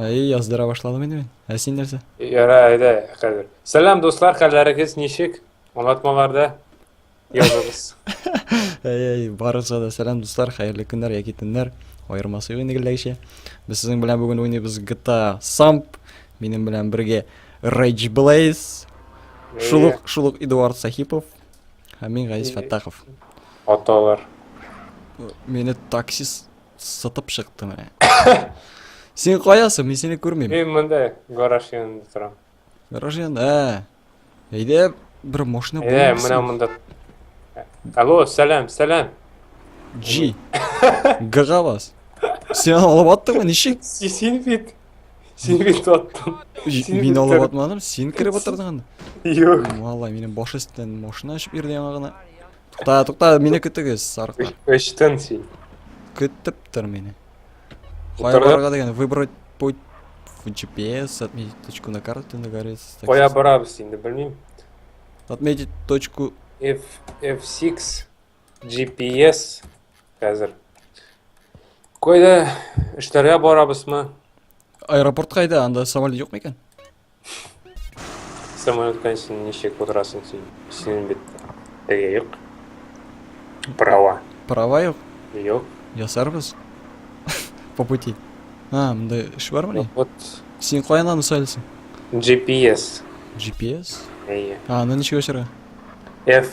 Әй, яздыра башладым инде мин. Ә син нәрсә? Яра, әйдә, хәзер. Сәлам, дуслар, хәлләрегез ничек? Аңлатмаларда языгыз. Әй, әй, барыгызга да сәлам, дуслар, хәерле көннәр яки төннәр. Аермасы юк инде гелдәгечә. Без сезнең белән бүген уйныйбыз GTA Samp. Минем белән бергә Rage Blaze, шул ук, шул ук Эдуард Сахипов һәм мин Газиз Фәттахов. Аталар. Мине таксист Сытып чыкты менә. Син каясың? Мин сине күрмим. Мин монда гараж янында торам. Гараж янында. Ә. Әйдә, бер машина булмый. Әйдә, менә монда. Алло, сәлам, сәлам. G. Гага бас. Сен алып аттыңмы, ничек? Син бит. Син бит аттың. Мин алып атмадым, син кіріп атырдың анда. Юк. Валай, менің баш астынан машина ашып берді яңа гына. Тукта, тукта, мине көтегез, сарыклар. Өчтен син. Көтеп тор мине. Кая барырга дигән, выбрать путь в GPS, отметить точку на карте на горе. Кая барабыз инде, белмим. Отметить точку F F6 GPS хәзер. Кайда эшләргә барабызмы? Аэропорт кайда? Анда самолет юк микән? Самолеткан син ничек утырасың син? Синең бит теге юк. Права. Права юк? Юк. Ясарбыз. По пути. А, мындай эш бармы ни? Вот. Син каян аны сайлыйсың? GPS. GPS? Әйе. А, аны ничек ачарга? F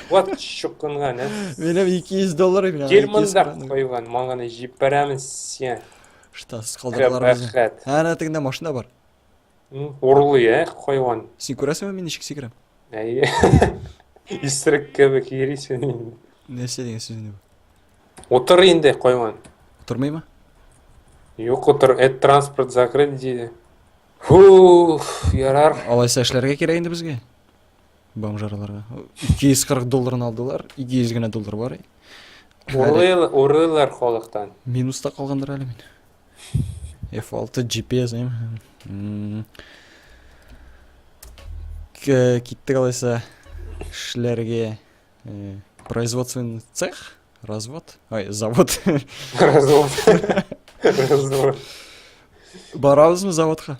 Вот чукынга, не? Минем 200 доллар мина. Германда койган, маңганы җип барамыз сен. Что, скалдарлар без. Ана тегендә машина бар. Урлый, э, койган. Син күрәсеңме мин ничек сикерәм? Әйе. Исрек кебек йөрисең инде. Нәрсә дигән сүз инде бу? Утыр инде койган. Утырмыймы? Юк, утыр, эт транспорт закрыт диде. Фу, ярар. Алайса эшләргә кирәк инде безгә. бомжарларга. 240 долларын алдылар, 200 генә доллар бар. Урыл, урылар халыктан. Минуста калгандыр әле мин. F6 GPS эм. М, к- Киттек алайса эшләргә. Э, Производственный цех, развод, ай, завод. Развод. Развод. Барабызмы заводка?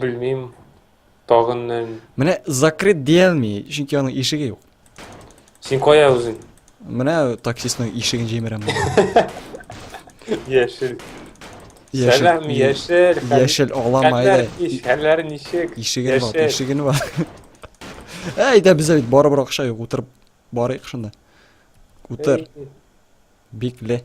Белмим, тагын нән. Менә закрыт диелми, чөнки аның ишеге юк. Син кая үзең? Менә таксистның ишеген җимерәм. Яшел. Яшел. Сәлам, яшел. Яшел алама әйдә. Хәлләр ничек? Ишеген ват, ишеген ват. Әйдә без бит барыбер акча юк, утырып барыйк шунда. Утыр. Бикле.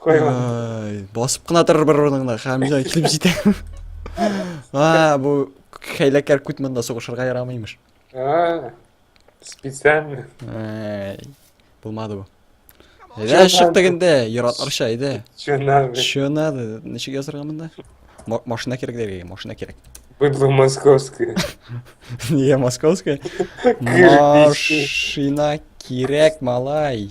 Кайган. Ай, басып кына торыр бер урыныңда, Хәмзә килеп җитә. А, бу хәйләкәр күт монда сугышырга ярамыймыш. А, специально. Ай, булмады бу. Әйдә, чыктык инде, яратларча, әйдә. Че надо? Че надо? Ничек язырга монда? Ма- Машина кирәк дәргә, машина кирәк. Быдло московское. Нигә московская? Кирпич. Машина кирәк, малай.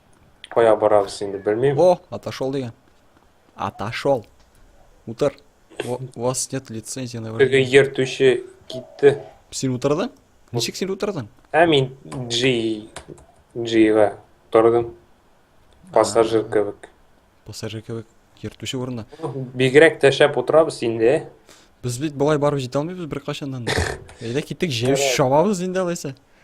Кая барабыз инде белмим. О, отошел дигән. Отошел. Утыр. У вас нет лицензии на вождение. Теге йер түше китте. Син утырдың? Ничек син утырдың? Ә мин G G-га тордым. Пассажир кебек. Пассажир кебек йер түше урында. Бигрәк тә шәп утырабыз инде. Без бит болай барып җитә алмыйбыз беркайчаннан. Әйдә китик, җәй шабабыз инде алайса.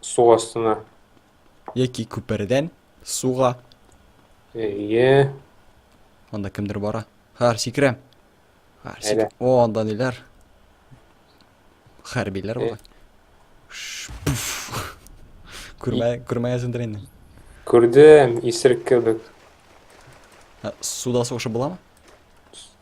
су астына. Яки күпердән суга. Әйе. Анда кемдер бара. Хәр сикерәм. Хәр сик... О, анда ниләр? Хәрбиләр бара. Күрмә, күрмәгәсендер инде. Күрдем, исерек кебек. Суда сугышы буламы?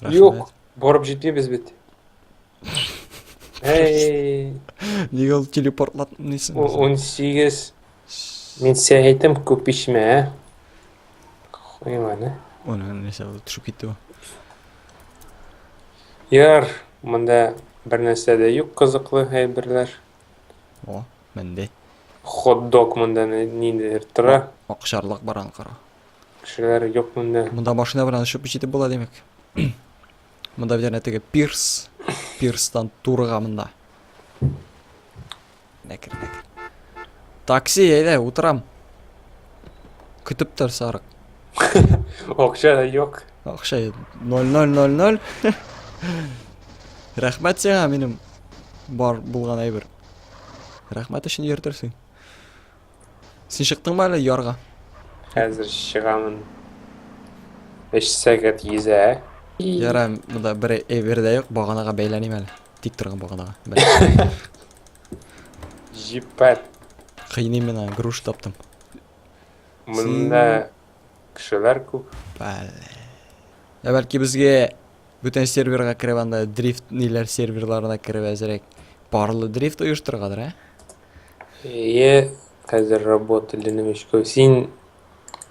Рәхмәт. Юк, барып җитмибез бит. Әй, Нигә ул телепортлатмыйсың? у- безне? 18. Мин сиңа әйтәм, күп эчмә, ә? Хуйманы. Аны нәрсә ул төшеп китте бу. Яр, монда бер нәрсә дә юк кызыклы әйберләр. О, менде. Хот-дог монда ни- ниндидер тора. Акшарлак баран кара. Кешеләр юк монда. Монда машина белән очып җитеп була димәк. Монда бит әнә теге пирс. Пирстан турыга монда. Нәкер, нәкер. Такси, әйдә, утырам. Көтеп тор, сарык. Акча да юк. Акча 0000. Рәхмәт сиңа минем бар булган әйбер. Рәхмәт өчен йөртерсең. Син чыктыңмы әле ярга? Хәзер чыгамын. Өч сәгать йөзә. Ярай, монда бер эвер дә юк, баганага бәйләним әле. Тик торган баганага. Бәлки. Җиппәт. Кыйный мина, груш таптым. Монда кешеләр күп. Бәле. Ә бәлки безгә бүтән серверга кереп анда дрифт ниләр серверларына кереп әзрәк парлы дрифт оештыргадыр, ә? Ие, хәзер работа ленем эшкә. Син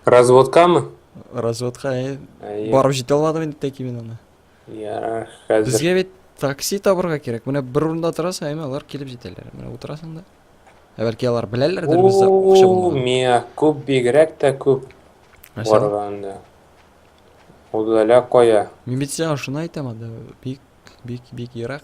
разводкамы? Разводка, ие. Ие. Барып җитә алмадым инде тәки мин аны. Ярар, хәзер. Безгә бит такси табырга кирәк. Менә бер урында торасың, әмма алар килеп җитәләр. Менә утырасың да. Ә бәлки алар беләләрдер бездә акча Уу, булмаган. мия, күп бигрәк тә күп Нәрсә? барганда. Удаля кая? Мин бит сиңа шуны әйтәм анда. Бик, бик, бик ерак.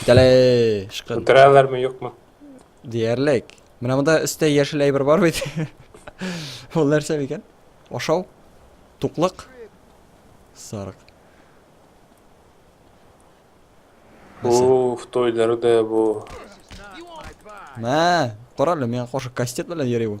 Китәле, шкын. Үтерәләрме, юкмы? Диярлек. Менә монда өстә яшел әйбер бар бит. Ул нәрсә микән? Ашау? Туклык? Сарык. Уф, той дәрде бу. Мә, карале, миңа каршы кастет белән йөри бу.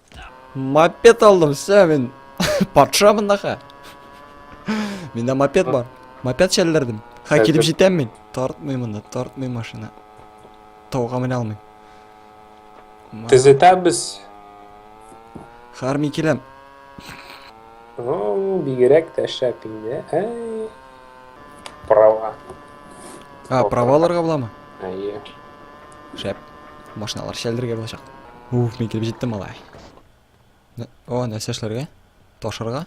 Мопед алдым, все, мин патша мындака. Миндә мопед бар. Мопед шәлләрдем. Ха, килеп җитәм мин. Тартмый монда, тартмый машина. Тауга менә алмыйм. Төзетәбез. Харми киләм. О, бигрәк тә шәп инде. Әй. Права. А, праваларга буламы? Әйе. Шәп. Машиналар шәлдергә булачак. Уф, мин килеп җиттем алай. О, нәрсә эшләргә? Ташырга?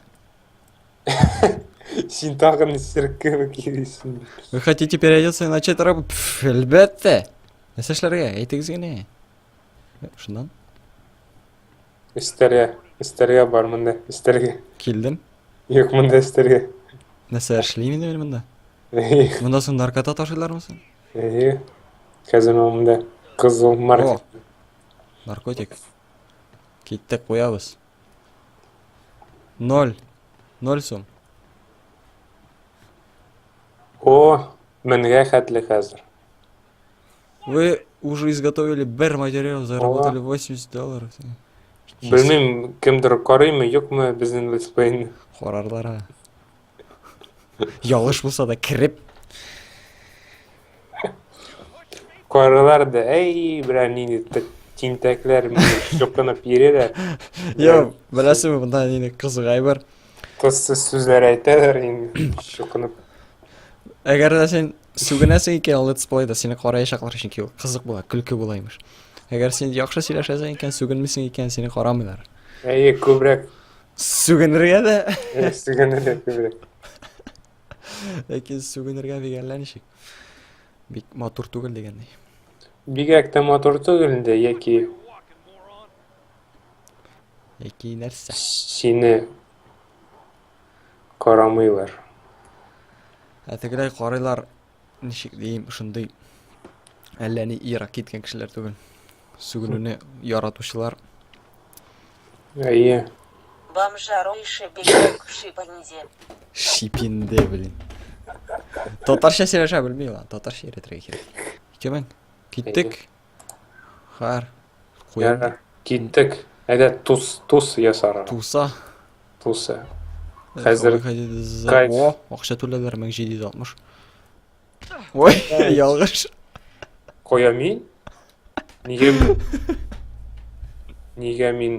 Син тагын нистеркеме килесең? Вы хотите переодеться и начать работать? Пф, әлбәттә. Нәрсә эшләргә? Әйтегез генә. Э, Шуннан Истерия. Истерия бар монда. Истерия. килдем. Юк монда истерия. Нәрсә эшлим инде мин монда? Эйе. Монда соң наркота ташыйлармы соң? Эйе. Казино монда. Кызыл маркет. Наркотик. Киттек, куябыз. Ноль. Ноль сум. О, меңгә хәтле хәзер. Вы уже изготовили бер материал, заработали 80 долларов. Белмим, кемдер карыймы, юкмы безнең летсплейны. Карарлар, а. Ялгыш булса да кереп. Каралар да, әй, бля, нинди т- тинтәкләр мине чукынып йөриләр. Йо, беләсеңме монда нинди кызыгай бар? Кызсыз сүзләр әйтәләр инде чукынып. Әгәр дә син сүгенәсең икән Let's Play-да сине караячаклар, чөнки ул кызык була, көлке була имеш. Әгәр син яхшы сөйләшәсең икән, сүгенмисең икән, сине карамыйлар. Әйе, күбрәк Сүгенергә дә. Сүгенергә күбрәк. Ләкин сүгенергә дигәнләр ничек? Бик матур түгел дигәнни. Бигрәк тә матур түгел инде яки яки нәрсә? Сине карамыйлар. Ә тегеләй карыйлар, ничек дим, шундый әллә ни ерак киткән кешеләр түгел. Сүгенүне яратучылар. Әйе. Бомжару ише бигрәк шипенде. Шипенде, блин. Татарча сөйләшә белми ла, татарча өйрәтергә кирәк. Икәү киттек. Хәр. Куям. Ярар, киттек. Әйдә тус, тус ясара. Туса. Туса. Хәзер кайф. О, акча түләләр 1760. Ой, ялгыш. Коя мин? Нигә мин? Нигә мин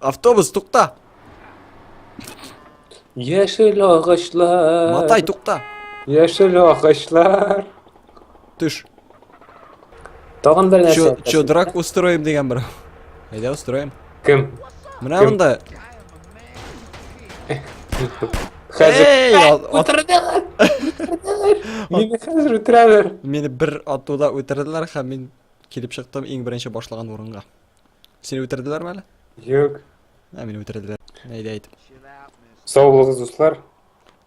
Автобус, тукта! Яшел агачлар. Матай, тукта! Яшел агачлар. Төш. Тагын бер нәрсә. Чо- Чодрак устроим дигән бер. Әйдә устроим. Кем? Менә Кем? монда. Хәзер. Эй, ал- ат- Үтерделәр. Үтерделәр. Мине хәзер үтерәләр. Мине бер атуда үтерделәр һәм мин килеп чыктым иң беренче башлаган урынга. Сине үтерделәр ме әле? Юк. Ә мине үтерделәр. Әйдә әйт. Сау булыгыз, дуслар.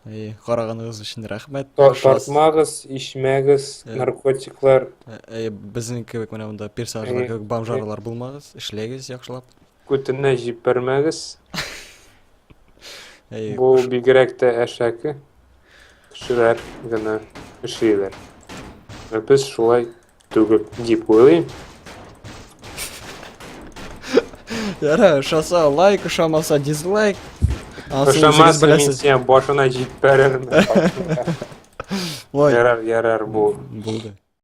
Әй, караганыгыз өчен рәхмәт. Тартмагыз, ишмәгез, э, наркотиклар. Э, әй, безнең кебек менә монда персонажлар кебек бомжарлар булмагыз, эшләгез яхшылап. Күтенә җибәрмәгез. Әй, Бу бигрәк тә әшәке кешеләр генә эшлиләр. Ә без шулай Түгел, дип уйлыйм. Ярар, ошаса лайк, ошамаса дизлайк. Ошамаса мин сиңа башына җип бәрермен. Ярар, ярар, бу. Булды.